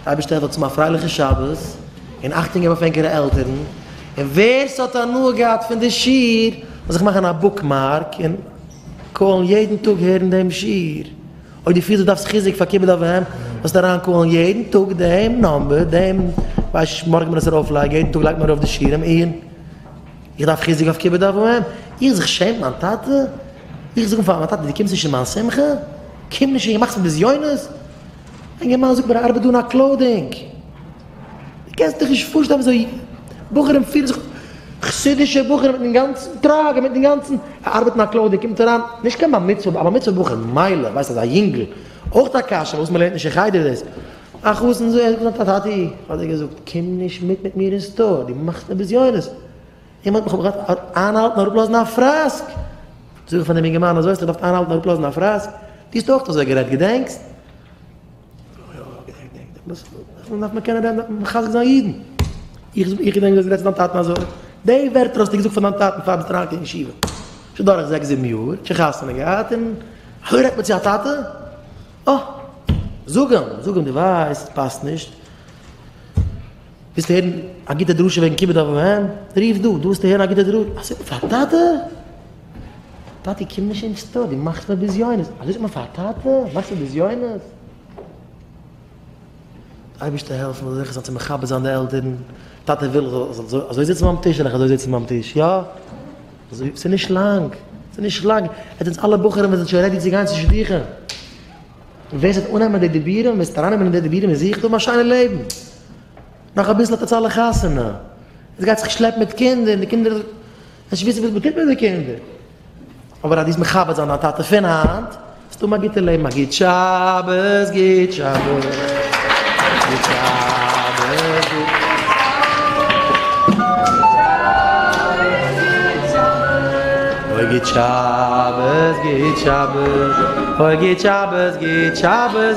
אייבערשטער האט צום א פרייליכע שבת און אכטונג געבן אויף ענקערע עלטערן, און ווער ס'האט הנאה געהאט פון די שיעור זאל זיך מאכן א בוקמארק און קאלן יעדן טאג הערן דעם שיעור, אויב דו פילסט דו דארפסט חיזוק פאר כיבוד אב ואם זאלסטו אריין קאלן יעדן טאג דעם נאמבער דעם ווייסט מארגן ווען עס ארויף לייגן יעדן טאג לייגט מען ארויף די שיעורים און איך דארף חיזוק אויף כיבוד אב ואם איך זיך שעמט מיין טאטע איך זאג אים פאר מיין טאטע דו קומסט נישט אין מיין שמחה קום נישט און מאכסט מיר בזיונות. א אינגערמאן זאגט מיר ער ארבעט דא אין א קלאודינג, דו קענסט דיך נישט פארשטעלן וויאזוי בחורים פירן זיך, חסידישע בחורים מיט דעם גאנצן טראג און מיט דעם גאנצן, ער ארבעט אין א קלאודינג, קומט אריין, נישט קיין בר מצוה, א בר מצוה בחור מילא, ווייסט אז א יונגל, אויך א קשיא פארוואס מען לערנט נישט אין חדר דאס, א חתן זאגט טאטי האט ער געזאגט קום נישט מיט מיט מיר אין סטאר, דו מאכסט מיר בזיונות, אים האָט מען, כ'האָב געדאַרפֿט אײַנהאַלטן און אַראָפּלאָזן אַ פֿראַסק! זאָג איך פֿון דעם יונגערמאַן, אַזױ האָסטו געדאַרפֿט אײַנהאַלטן און אַראָפּלאָזן אַ פֿראַסק? דו האָסט אױך אַזױ גערעדט, געדענקסט? אָ, אָ, געדענק, געדענק, געדענק. דאָס דאַרף מען קענען רעדן, דאַרף מען מחזק זײַן ייִדן. איך זאָג, איך געדענק, דו האָסט גערעדט צו דײַן טאַטן אַזױ. די װערטער האָסטו געזאָגט פֿאַר דײַן טאַטן, פֿאַר ביסט אַרײַנגעקומען אין ישיבֿה. שױן דורך זעקס, זיבן יאָר, שױן חתונה געהאַט, און אַזױ רעדט מען צו אַ טאַטע? אָ, זאָג אים, זאָג אים, דו װײסט, עס פּאַסט נישט. ווילסט הערן א גוטע דרשה וועגן כיבוד אב ואם? רוף דא, דא וועסטו הערן א גוטע דרשה, אזוי זאגט מען פאר א טאטע? טאטי קום נישט אין שטאט, דו מאכסט מיר בזיונות, אזוי זאגט מען פאר א טאטע? מאכסט מיר בזיונות? אייבערשטער העלף מיר זאל איך זיך זעצן מכבד זיין די עלטערן, טאטע וויל איך זאל זיך אזוי זיצן ביים טיש, וועל איך אזוי זיצן ביים טיש, יא? אזוי, ס'איז נישט לאנג, ס'איז נישט לאנג, עטס זענטס אלע בחורים וואס זענט שוין רעדי צו גיין צו שידוכים, ווער ס'וועט אננעמען די דיבורים, ווער ס'וועט ארייננעמען אין די דיבורים וועט זיכער האבן א שיינע לעבן. נאך אביסל האט עטס אלע חתונה, עטס גייט זיך שלעפן מיט קינדער און די קינדער וועלן נישט וויסן וואס מען טוט מיט די קינדער, אבער אז דו וועסט מכבד זיין דיין טאטע פון היינט וועסטו האבן א גוטע לעבן, א גוט שבת, גוט שבת, גוט שבת.